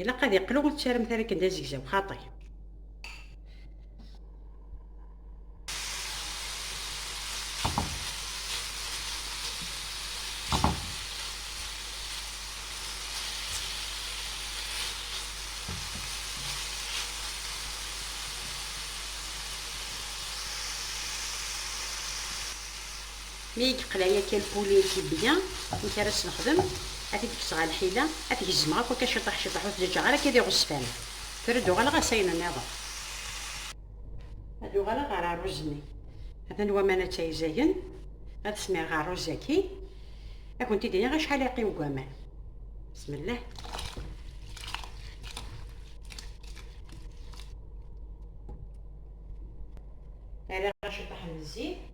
ilaq ad iqlu ur ttarem tara akken d azegzaw xaṭi Mi i yeqleɛ yakka lpuli n tibbi-a, amek ara s-nexdem? Ad t-id-kkseɣ ɣer lḥila, ad t-gezmeɣ akk akka ciṭuḥ ciṭuḥ, ur t-ǧǧeɣ ara akka d iɣezfan. Tura ad uɣaleɣ ɣer-s ayen nniḍen. Ad uɣaleɣ ɣer rruz-nni. Atan waman a ttayzagen, ad smireɣ rruz-agi. Ad kent-id-iniɣ acḥal ara yeqqim deg waman. Bismillah. Rriɣ ciṭuḥ n zzit.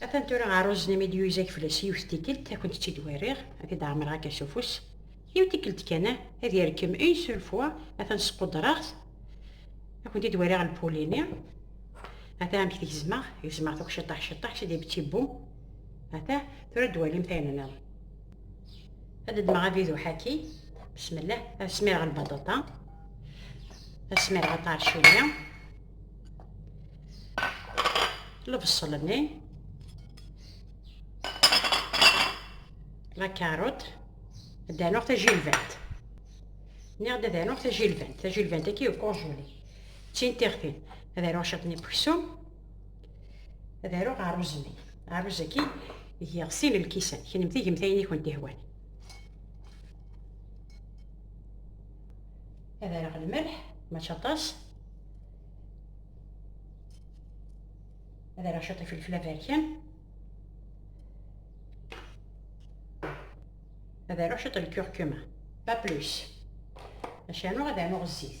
Atan tura aruzen imi d-yuyzag fell-as yiwet tikkelt ad kent-tt-id wariɣ, ad t-id-ɛemreɣ akka s ufus. Yiw tikkelt kan, ad yerkem une seule fois, atan squdreɣ-t, ad kent-id wariɣ lpul-ini. Ata amek t-gezmeɣ, gezmeɣ akk ciṭṭaḥ ciṭṭaḥ, c'est des petits bouts. Ata tura ad d-twalimt ayen nniḍen. Ad d-ddmeɣ avidu ḥaki, bismillah, ad smireɣ lbaṭaṭa, ad smireɣ aṭarcili, lebṣel-nni lakarut ad d-anuɣ tajilbant nniɣ-d ad anuɣ tajilbant tajilbant agi u konjuli d tin tiɣtin ad aruɣ ciṭ n ipeksum ad aruɣ aṛuz-nni aṛuz-agi giɣ sin lkisan kennemti gemt ayen i kent-ihwan ad rreɣ lmelḥ mačči aṭas ad rreɣ ciṭ ifelfel aberkan ad rreɣ ciṭ lkurkuma pas plus maca nuɣ ad rnuɣ zzit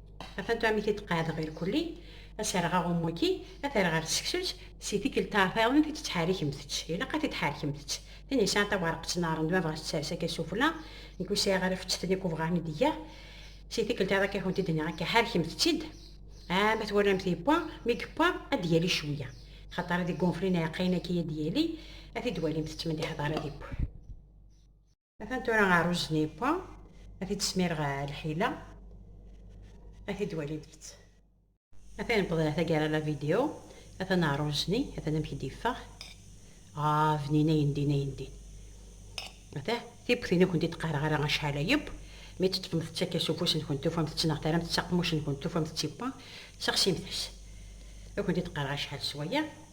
Afatu amek i d-qeɛdeɣ irkulli, ad serreɣ aɣummu-agi, ad t-rreɣ ar tseksut, si tikkelt taɛtayeḍnit i d-ttḥarikemt-tt, ilaq ad t-id-tḥarkemt-tt, tin yesɛan taweɛreqt n aɣrem d bab ɣas tters akka sufella, nekk ur sɛiɣ ara fettet-nni akk ubɣaɣ mi d-iger, si tikkelt ad ak-akent-id-nniɣ akka ḥarkemt-tt-id, ah ma twalamt yewwa, mi yewwa ad d-yali cwiya, axaṭer ad iggunflin iɛeqqayen-agi ad d-yali, ad t-id-walimt ttmenniḥeḍ ara d-iww. Atan tura rruẓ n yewwa, ad t-id-smireɣ lḥila, ad t-id-wali deg-s. Atan newweḍ ɣer taggara n lavidyu, atan rruẓ-nni, atan amek i d-yeffeɣ. Ah, bnin ayendin ayendin! Ata tiwwet inu kent-id qqareɣ ara acḥal a yeww, mi tt-teṭṭfemt-tt akka s ufus-nkent tufamt-tt neɣ terramt-tt s aqemmuc-nkent tufamt-tt yewwa, sexsimt-as. Ur kent-id qqareɣ acḥal s waya.